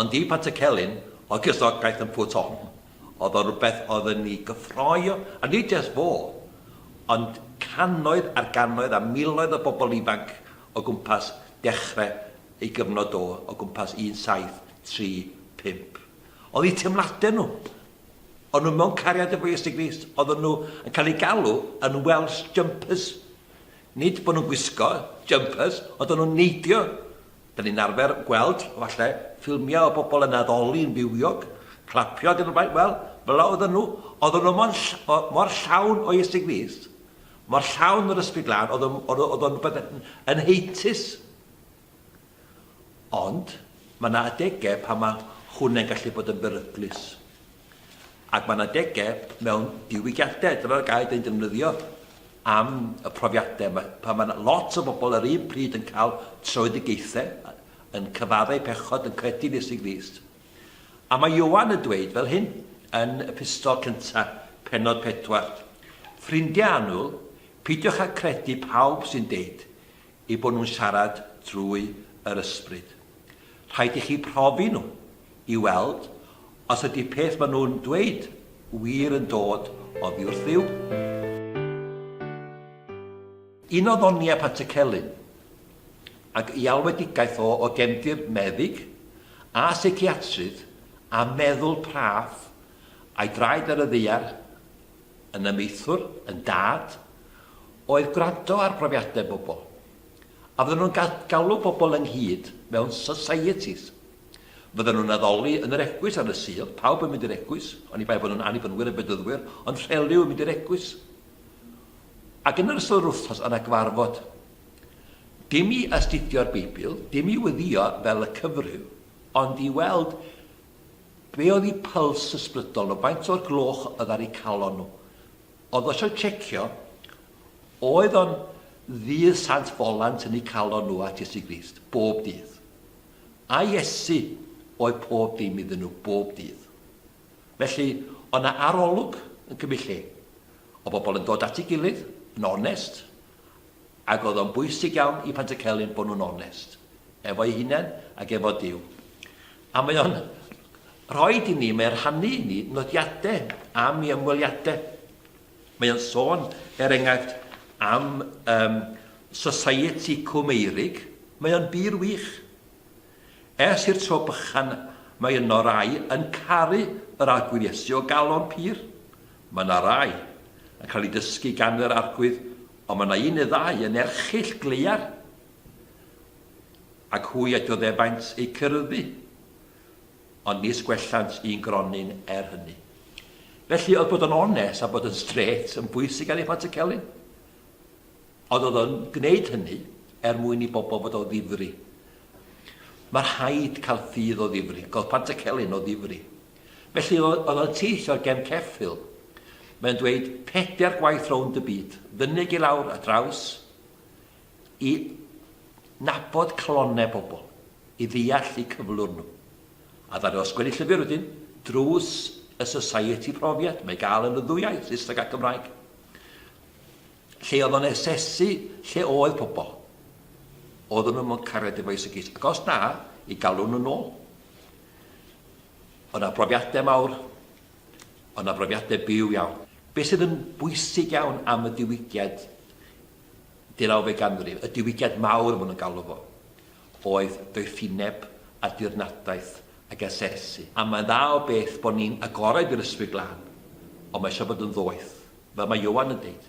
Ond i Pantycelyn, ogys o'r peth yn Pwt Hon, oedd o rywbeth oedd yn ei gyffroi o, a nid jest fo, ond cannoedd ar gannoedd a miloedd o bobl ifanc o gwmpas dechre ei gyfnod o, o gwmpas 1735. Oedd eu teimladau nhw. O'n nhw mewn cariad efo Iesu Grist. Oedden nhw yn cael eu galw yn Welsh Jumpers. Nid bod nhw'n gwisgo jumpers, ond o'n nhw'n neidio. Dyn ni'n arfer gweld, falle, ffilmiau o bobl yn addoli yn fywiog, clapio ac yn y blaen, wel, fel 'na oedden nhw. Oedden nhw mor ll- o- mor llawn o iesu Grist, mor llawn o'r Ysbryd Glân, oedd o'n- oedd o- oedd o'n rhywbeth yn yn heintus. Ond, mae 'na adegau pan mae hwnna'n gallu bod yn beryglus. Ac mae yna degau mewn diwygiadau, dyna'r gair dyn defnyddio am y profiadau, mae, pan mae yna lot o bobl yr un pryd yn cael tröedigaethau, yn cyfaddau eu pechod, yn credu yn Iesu Grist. A mae Ioan yn dweud fel hyn yn y pistol cyntaf, penod pedwar. Ffrindiau annwyl, pidiwch â credu pawb sy'n deud, eu bod nhw'n siarad drwy yr ysbryd. Rhaid i chi profi nhw i weld os ydy peth maen nhw'n dweud wir yn dod oddi wrth Dduw. Un o ddoniau Pantycelyn, ac i alwedigaeth o o gefndir meddyg a seiciatrydd a meddwl praff a'i draed ar y ddaear yn amaethwr, yn dad, oedd gwrando ar brofiadau pobl, a fyddan nhw'n galw pobl ynghyd mewn societies. Fyddan nhw'n addoli yn yr eglwys ar y Sul, pawb yn mynd i'r eglwys, oni bai bod nhw'n Annibynwyr a Bedyddwyr, ond rheliw yn mynd i'r eglwys. Ac yn yr ystod yr wythnos yna gyfarfod. Dim i astudio'r Beibl, dim i wyddio fel y cyfryw, ond i weld Be oedd y pyls ysbrydol o faint o'r gloch oedd ar eu calon nhw? Oedd o eisiau tsecio? Oedd o'n ddydd Sant Folant yn eu calon nhw at Iesu Grist, bob dydd? A Iesu oedd pob dim iddyn nhw, bob dydd. Felly, oedd na arolwg yn cymryd lle. Oedd bobl yn dod at ei gilydd, yn onest, Ac oedd o'n bwysig iawn i Pantycelyn bod nhw'n onest efo'i hunain ac efo Duw. A mae o'n rhoid i ni, mae o'n rhannu i ni nodiadau am ei ymweliadau. Mae o'n sôn, er enghraifft, am um, Society Cwm Eirig. Mae o'n bur wych. Ers i'r tro bychan, mae yno rai yn caru yr arglwydd Iesu o galon pur. Mae yna rai yn cael ei dysgu gan yr arglwydd Ond mae yna un neu ddau yn erchyll gleiar, ac hwy a dioddefaint eu cyryddu, ond nis gwellant un gronyn er hynny. Felly, oedd bod yn onest a bod yn strêt yn bwysig ar ei phant y celyn, ond oedd o'n gwneud hynny er mwyn i bobl fod o ddifri. Mae rhaid cael ffydd o ddifri, cael pant y celyn o ddifri. Felly oedd o'n tyll o gefn ceffyl. Mae o'n dweud pedair gwaith rownd y byd, fynyg i lawr a draws, i nabod calonnau bobl, i ddeall eu cyflwr nhw. A ddaru o sgwennu llyfr wedyn, drws y Society profiad, mae gael yn y ddwy iaith, Saesneg a Cymraeg. Lle oedd o'n asesu lle oedd pobl. Oedden nhw'n mwyn cariad efo Isegis. Ac os na, i galw nhw'n ôl. O' 'na brofiadau mawr, o' 'na brofiadau byw iawn. Be' sydd yn bwysig iawn am y diwygiad deurawfed ganrif, y diwygiad mawr ma' nhw'n galw fo, oedd doethineb a dirnadaeth ag asesu. A mae'n dda o beth bod ni'n agored i'r Ysbryd Glân, ond mae eisiau bod yn ddoeth, fel mae Ioan yn deud.